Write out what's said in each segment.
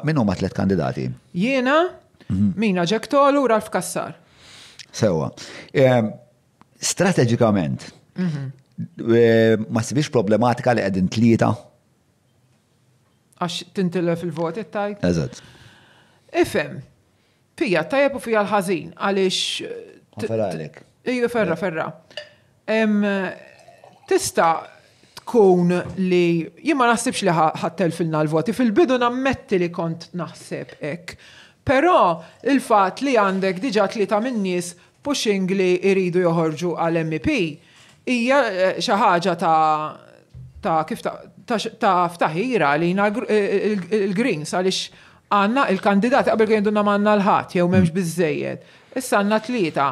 Min huma tliet kandidati? Jiena, Mina Ġektolu u Ralf Kassar. Sewa. Ehm, strateġikament, mhm. ehm, ma sibix problematika li qegħdin tlieta? Għax tintilef il-voti tajt? Eżatt. Ifhem. Fija tajjeb u fija l-ħażin għaliex. Ferra għalek. Iju ferra, ferra. Tista tkun li jien ma naħsibx li ħattel filna l-voti. Fil-bidu nammetti li kont naħseb hekk. Però il-fatt li għandek diġà tlieta min-nies pushing li jridu joħorġu għal MEP hija xi ħaġa ta' ta' kif ta' ta' ftaħira għalina il-Greens għaliex għandna il-kandidati qabel kien jgħidulna m'għandna l-ħadd jew m'hemmx biżżejjed. Issa għandna tlieta.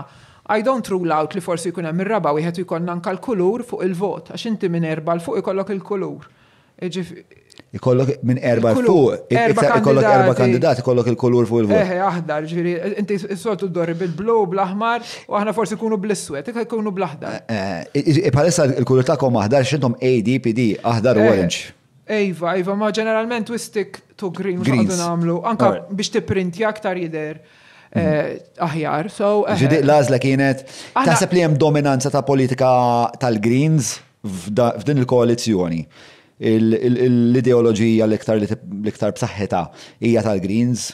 I don't rule out li forsi jkun hemm ir-raba' wieħed u jkollna anke l-kulur fuq il-vot għax inti minn erba' 'l fuq ikollok il-kulur. Ikollok minn erba' fuq, ikollok erba' kandidati, ikollok il-kulur fuq il-vot. Eħe, aħdar, ġifieri, inti s-soltu ddorri bil-blu, bl-aħmar, u aħna forsi nkunu bl-iswed, iktar ikunu bl-aħdar. Bħalissa l-kulur tagħkom aħdar għax intom ADPD, aħdar u orange. Iva, iva, ma ġeneralment we stick to green, mhux qed nagħmlu, anke biex tipprintja aktar jidher aħjar. Ġifieri l-għażla kienet, taħseb li hemm dominanza ta' politika tal-greens? F'din il-koalizzjoni, l-ideoloġija l-iktar b'saħħitha hija tal-Greens?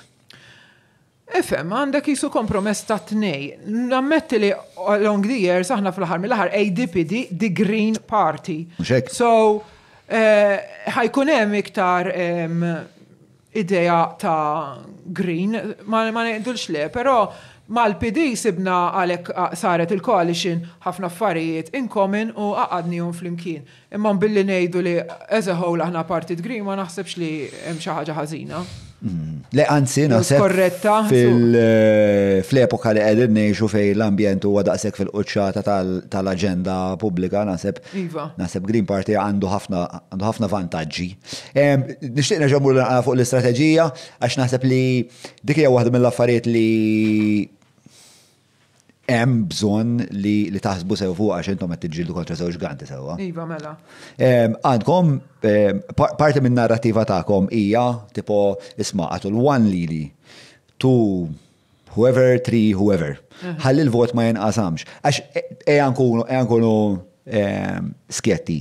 Ifhem, għandek qisu kompromess tat-tnej. Nammetti li along the years aħna fl-aħħar mill-aħħar ADPD the Green Party. Mhux hekk? So, ħa jkun hemm iktar idea ta' green, ma ngħidulx le, però mal-PD sibna għalhekk saret il-coalition ħafna affarijiet in common u għaqadnihom flimkien. Imma billi ngħidu li as a whole aħna partit green ma naħsibx li hemm xi ħaġa ħażina. Le anzi naħseb. Korretta. Fl-epoka li qegħdin ngħixu fejn l-ambjent huwa daqshekk fil-quċċata tal-aġenda pubblika naħseb. Iva. Naħseb Green Party għandu ħafna vantaġġi. Nixtieq nerġa' mmur naqra fuq l-istrateġija għax naħseb li dik hija waħda mill-affarijiet li hemm bżonn li taħsbu sew fuq għax intom qed tiġġieldu kontra żewġ ganti sewwa. Iva mela. Għandkom parti minn narrativa tagħkom hija tipo isma' għatu l-one lili to whoever tri whoever. Ħalli l-vot ma jinqasamx. Għax ejja nkunu skjetti.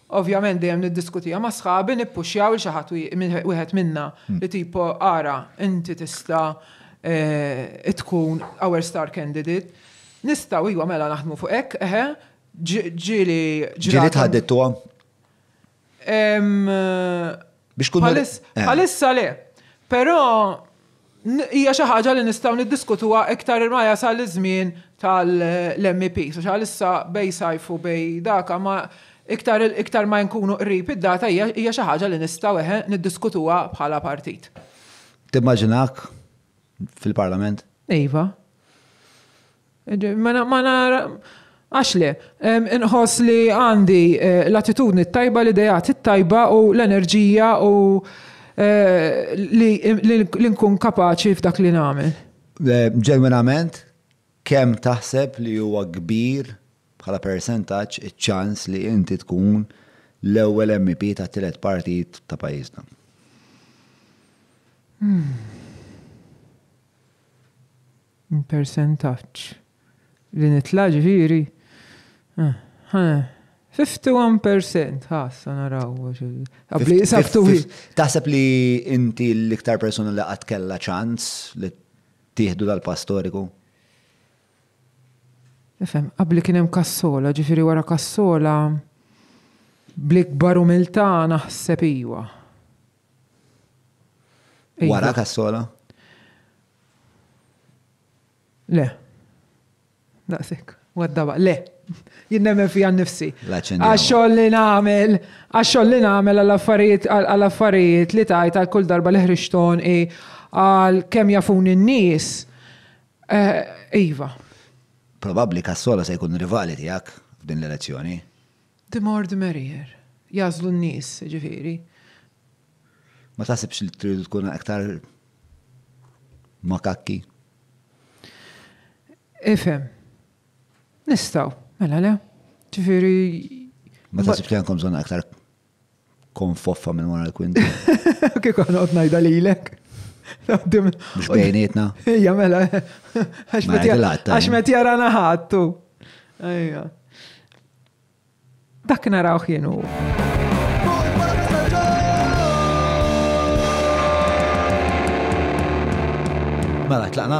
Ovvjament dejjem niddiskutiha ma' sħabi, nippuxxjaw 'il xi ħadd wieħed minna li tipo ara inti tista' tkun our star candidate. Nistgħu iva mela naħdmu fuq hekk, eħe. Ġieli ġrat. Ġieli tħaddidtuha? Biex kun Palissa le. Però hija xi ħaġa li nistgħu niddiskutuha iktar ma jasal iż-żmien tal-MEP. So xalissa bej sajfu bej daka ma iktar iktar ma nkunu qrib id-data hija xi ħaġa li nistgħu eħe niddiskutuha bħala partit. Timmaġinak fil-Parlament? Iva. Għax le? Inħoss li għandi l-attitudni t-tajba, l-ideat it-tajba u l-enerġija u li nkun kapaċi f'dak li nagħmel. Ġenwinament, kemm taħseb li huwa kbir bħala persentaġġ iċ-ċans li inti tkun l-ewwel MEP tat-tielet partit ta' pajjiżna? Persentaġġ. Li nitla' ġifieri? Ħa, 51 persent, ħa issa naraw. Qabli saftu hi. Taħseb li inti l-iktar persuna li qatt kellha ċans li tieħdu dal-pass storiku? Ifhem, qabli kien hemm Kassola, ġifieri wara Kassola bl-ikbar umiltà naħseb iwa. Wara Kassola? Le. Daqshekk. Waddaba, le. Jien nemmen fija nnifsi. Għax-xogħol li nagħmel, għax-xogħol li nagħmel għall-affarijiet għall-affarijiet li tajt għal kull darba li ħriġthom i għal kemm jafuni n-nies. Eh, iva. Probabbli Cassolo se jkun rivali tiegħek f'din l-elezzjoni. The more the merrier. Jagħżlu n-nies, jiġifieri. Ma taħsibx li tridu tkun aktar makakki? Ifhem. Nistgħu, mela le? Ġifieri. Ma taħsibx li għandkom bżonn aktar Kon foffa minn wara l-kwinti. Kik għan għot najda li l-ek. Mux bejnietna. Ija, mela. Għax met jara naħattu. Ija. Dak naraw xienu. Mela, tlaqna.